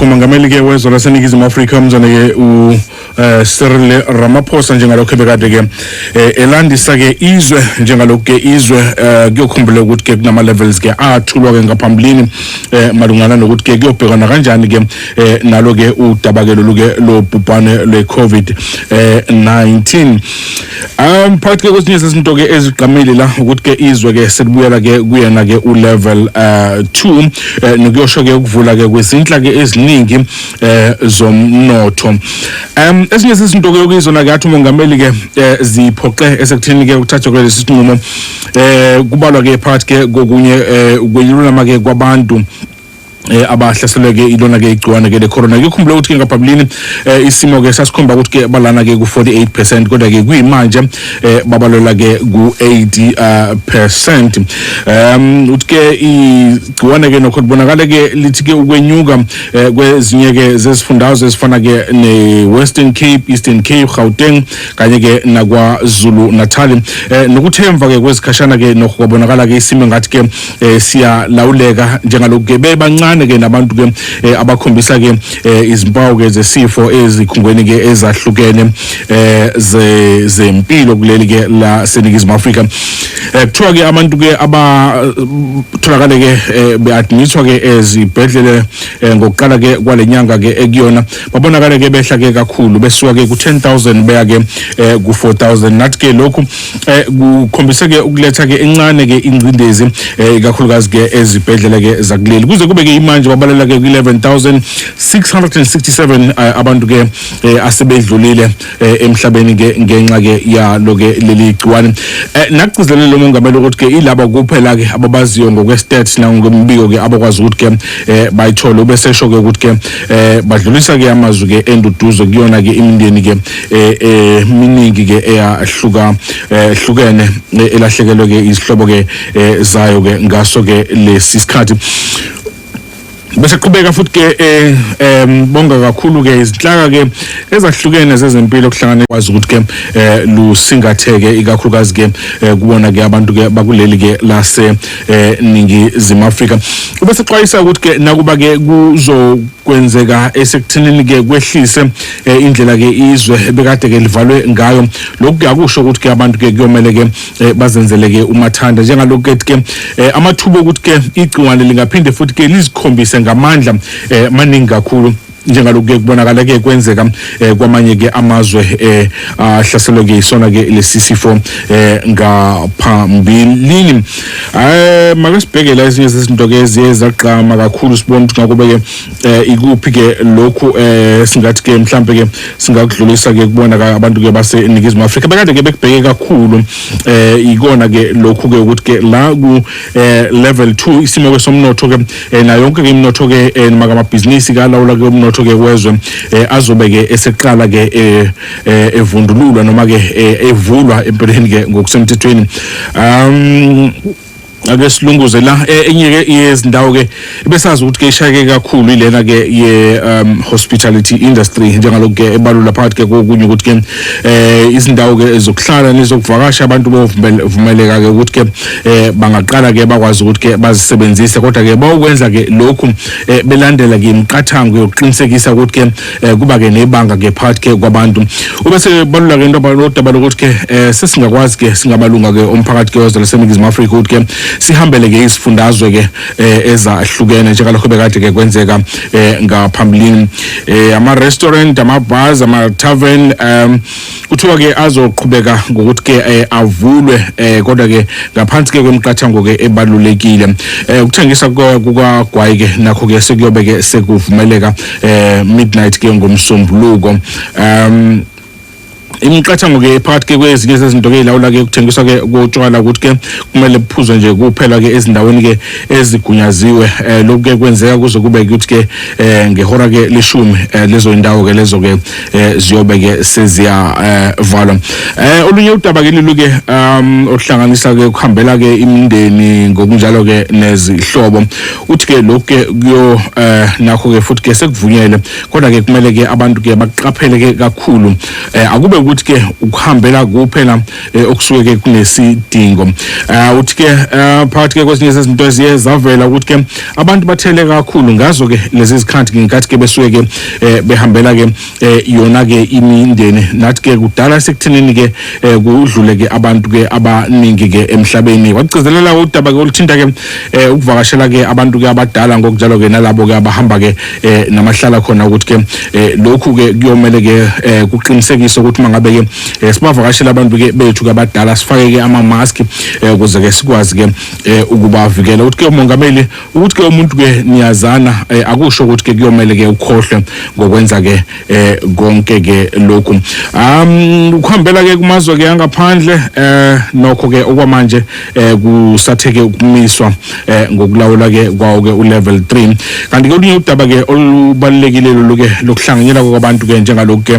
umongameli ke wezwe laseningizimu afrika umzane ke ucyril eh, uh, ramaphosa njengalokhu ebekade ke eh, elandisa ke izwe njengalokhu ke izwe eh, kuyokhumbula ukuthi ke kunama-levels ke athulwa ke ngaphambilini um malungana nokuthi ke kuyobhekana kanjani ke um nalo ke udaba ke lolu ke lobhubhane lwe-covid-19 Um phakathi ke kwesinye sezinto ke ezigqamile la ukuthi ke izwe ke sekubuyela ke kuyena ke ulevel uh 2 eh, nokuyosho ke ukuvula ke kwezinhla ke eziningi eh zomnotho. Um esinye sezinto ke yokuyizona ke athi umongameli ke eh, ziphoxe esekutheni ke ukuthathwa ke lesinqumo eh kubalwa ke phakathi ke kokunye eh kweyilulama ke kwabantu eh abahlaselwe ke ilona ke igciwane ke lecorona ke ukhumbule ukuthi ke ngaphambilini eh, isimo ke sasikhomba ukuthi ke balana ke ku48% kodwa ke kuyimanje eh, babalwela ke ku80% um uthi ke igciwane ke nokho libonakala ke lithi ke ukwenyuka eh, kwezinye ke zesifundazwe ezifana ke neWestern Cape Eastern Cape Gauteng kanye ke nakwaZulu Natal eh, nokuthemva ke kwezikhashana ke nokho kwabonakala ke isimo ngathi ke eh siyalawuleka njengalokhu ke bebancane ke nabantu ke eh, abakhombisa ke eh, izimpawu ke zesifo ezikhungweni ke ezahlukene eh ze zempilo kuleli ke la seningizimu Afrika eh kuthiwa ke abantu ke abatholakale ke eh, beadmitwa ke ezibhedlele eh, ngokuqala ke kwalenyanga ke ekuyona babonakale ke behla ke kakhulu besuka ke ku 10000 beya ke eh, ku 4000 nathi ke lokhu eh kukhombise ke ukuletha ke encane ke ingcindezi eh kakhulukazi ke ezibhedlela ke zakuleli kuze kube ke imanje babalela ke ku-11667 eh, abantu ke eh, asebedlulile eh, emhlabeni ke ngenxa ke yalo ke leli gciwane nakugcizelele lo mongameli ukuthi ke ilaba kuphela ke ababaziyo ngokwestats nangokwembiko ke abakwazi ukuthi ke bayithole ubesesho ke ukuthi ke badlulisa ke amazwi ke enduduzo kuyona ke imindeni ke eh, eh miningi ke eyahluka eh, hlukene eh, elahlekelwe ke izihlobo ke zayo ke ngaso ke lesi sikhathi bese qhubeka futhi ke eh, em bonga kakhulu ke izinhlaka ke ezahlukene zezempilo kuhlangane kwazi ukuthi ke eh, lusingatheke ikakhulukazi ke eh, kubona ke abantu ke bakuleli ke lase ningi zima Africa ubese xwayisa ukuthi ke nakuba ke kuzokwenzeka esekuthinini ke kwehlise eh, indlela ke izwe bekade ke livalwe ngayo lokhu kuyakusho ukuthi ke abantu ke kuyomele ke eh, bazenzele ke umathanda njengalokhu ke ke eh, amathuba okuthi ke igciwane lingaphinde futhi ke lizikhombise ngamandla eh, maningi kakhulu njengalokhu ke kubonakala ke kwenzeka eh, kwamanye ke amazwe eh, ahlaselwe ke isona ke lesi sifo eh, ngaphambilini eh makasibhekela ezinye zezinto ke eziye zagqama kakhulu sibona ukuthi ngakuba ke eh ikuphi ke lokhu eh singathi ke mhlambe ke singakudlulisa ke kubona ka abantu ke base Ningizimu Afrika bekade ke bekubheke kakhulu eh ikona ke lokhu ke ukuthi ke la ku eh level 2 isimo ke somnotho ke eh, na yonke ke imnotho ke eh, maka mabhizinisi kalawula ke umnotho ke wezwe eh, azobe ke eseqala ke eh, eh, evundululwa noma ke eh, evulwa empeleni ke ngokusemthethweni um ake silunguze la eh, enye ke yezindawo ke besazi ukuthi ke ishayeke kakhulu ilena ke ye um, hospitality industry njengalokhu ke ebalula phakathi ke kokunye ukuthi ke eh izindawo ke zokuhlala nezokuvakasha abantu bovumeleka ke ukuthi ke eh, bangaqala ke bakwazi ukuthi ke bazisebenzise kodwa ke bawukwenza ke lokhu eh, belandela ke imiqathango yokuqinisekisa ukuthi ke eh kuba ke nebanga ke part ke kwabantu ube sebalula ke into abalodaba lokuthi ke eh sesingakwazi ke singabalunga ke umphakathi ke wezwe laseNingizimu Afrika ukuthi ke sihambele ke isifundazwe ke eh, ezahlukene njengalokho bekade ke kwenzeka eh, ngaphambilini eh ama restaurant ama bars ama tavern um kuthiwa ke azoqhubeka ngokuthi ke eh, avulwe eh, kodwa ke ngaphansi ke kwemiqathango ke ebalulekile eh, ukuthengisa kuka- kukagwayi ke nakho ke sekuyobe ke sekuvumeleka eh, midnight ke ngomsombuluko um imiqathango ke phakathi ke kwezinye zezinto ke ilawula ke kuthengiswa ke kotshwala ukuthi ke kumele buphuzwe nje kuphela ke ezindaweni ke ezigunyaziwe eh lokhu ke kwenzeka kuze kube ukuthi ke eh ngehora ke leshumi eh lezo indawo ke lezo ke eh ziyobe ke seziyavalwa eh, eh olunye udaba ke lilu ke um ohlanganisa ke ukuhambela ke imindeni ngokunjalo ke nezihlobo uthi ke lokho ke kuyo eh nakho ke futhi ke sekuvunyele kodwa ke kumele ke abantu ke baqaphele ke kakhulu eh akube ukuthi ke ukuhambela kuphela eh, okusuke ke kunesidingo uh, uthi ke uh, phakathi ke kwezinye zezinto eziye zavela ukuthi ke abantu bathele kakhulu ngazo ke lezi zikhathi ke ngenkathi ke besuke ke eh, behambela ke eh, yona ke imindeni nathi ke kudala sekuthenini ke eh, kudlule ke abantu ke abaningi ke emhlabeni wagcizelela udaba ke oluthinta ke eh, ukuvakashela ke abantu ke abadala ngokunjalo ke nalabo ke abahamba ke eh namahlala khona ukuthi ke eh, lokhu ke kuyomele ke eh, kuqinisekise ukuthi mangabe ke eh, sibavakashela abantu ke bethu ke abadala sifake ke ama mask eh, ukuze ke sikwazi ke eh, ukubavikela ukuthi ke umongameli ukuthi ke umuntu ke niyazana eh, akusho ukuthi ke kuyomele ke ukhohlwe ngokwenza ke eh, konke ke lokhu um ukuhambela ke kumazwe ke angaphandle eh nokho ke okwamanje eh kusatheke ukumiswa eh ngokulawula ke kwawo ke ulevel 3 kanti ke olunye udaba ke olubalekile loluke lokuhlanganyela kwabantu ke njengaloku ke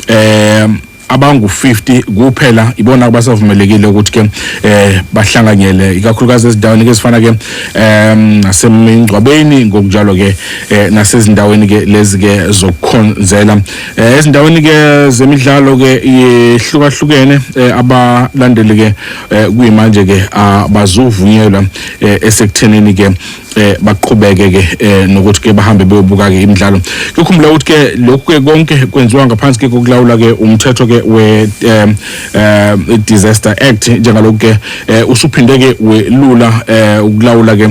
eh abangu-50 kuphela ibona abasavumelekile ukuthi ke eh bahlanganyele ikakhulukazi ezindaweni ke ezifana ke em nasemingcwabeni ngokunjalo ke eh, nasezindaweni ke lezi ke zokukhonzela eh, ezindaweni ke zemidlalo ke ihlukahlukene eh, abalandeli ke eh kuyimanje ke abazovunyelwa eh, esekuthenini ke eh baqhubeke ke eh, nokuthi ke bahambe beyobuka ke imidlalo kukhumbula ukuthi ke lokhu ke konke kwenziwa ngaphansi ke kokulawula ke umthetho ke we eh, eh, disaster act njengalokhu ke eh, usuphinde ke welula eh, ukulawula ke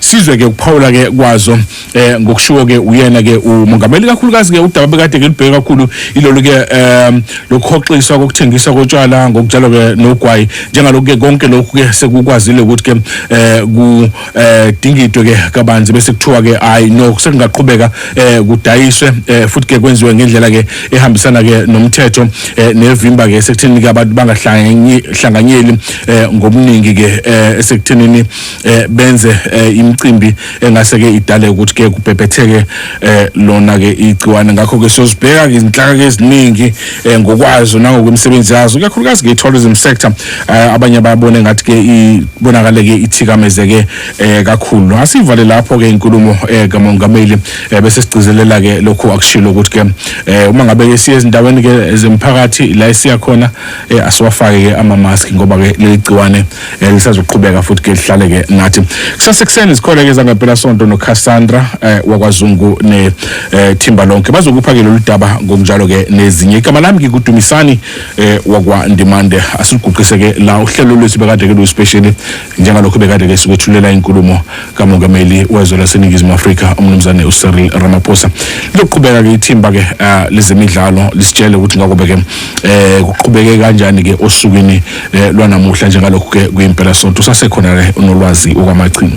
sizwe ke ukuphawula ke kwazo eh ngokushiwo ke uyena ke umongameli kakhulukazi ke udaba bekade ke libheke kakhulu ilolu ke um lokhoxiswa kokuthengiswa kotshwala ngokutshalwa ke nogwayi njengalokhu ke konke lokhu ke sekukwazile ukuthi ke eh ku eh, dingidwe ke kabanzi bese kuthiwa ke hayi no sekungaqhubeka eh kudayiswe eh, futhi ke kwenziwe ngendlela ke ehambisana ke nomthetho eh, nevimba ke sekuthini ke abantu bangahlanganyeli eh, ngobuningi ke eh, esekuthenini eh benze eh, imicimbi engase ke idale ukuthi ke kubhebhetheke eh, lona ke igciwane ngakho ke sozibheka izinhlaka ke eziningi eh, ngokwazo nangokwemisebenzi yazo kakhulukazi ke tourism sector eh, abanye bayabona ngathi ke ibonakale ke ithikameze ke eh, kakhulu asivale lapho ke inkulumo eh, kamongameli eh, bese sigcizelela ke lokho akushilo ukuthi ke eh, uma ngabe ke siye ezindaweni ke zemphakathi la esiya khona eh, asiwafake ke ama mask ngoba ke leli gciwane Eh, lisazoqhubeka futhi ke lihlale ke nathi kusase kuseni zikhona ke zangempela sonto no Cassandra eh, wakwazungu ne eh, thimba lonke bazokupha ke lolu daba ngokunjalo ke nezinye igama lami ngikudumisani eh, wakwa Ndimande asiguqise ke la uhlelo lwethu bekade ke lu special njengalokho bekade ke sikwethulela inkulumo kamongameli wezwe laseningizimu afrika umnumzane ucyril ramaphosa lizoqhubeka-ke ithimba-ke eh, lezemidlalo lisitshele ukuthi ngakobe-ke um eh, kuqhubeke kanjani-ke osukwini um lwanamuhla njengalokhu-ke kuyimpelasonto usasekhona-ke unolwazi okwamachingo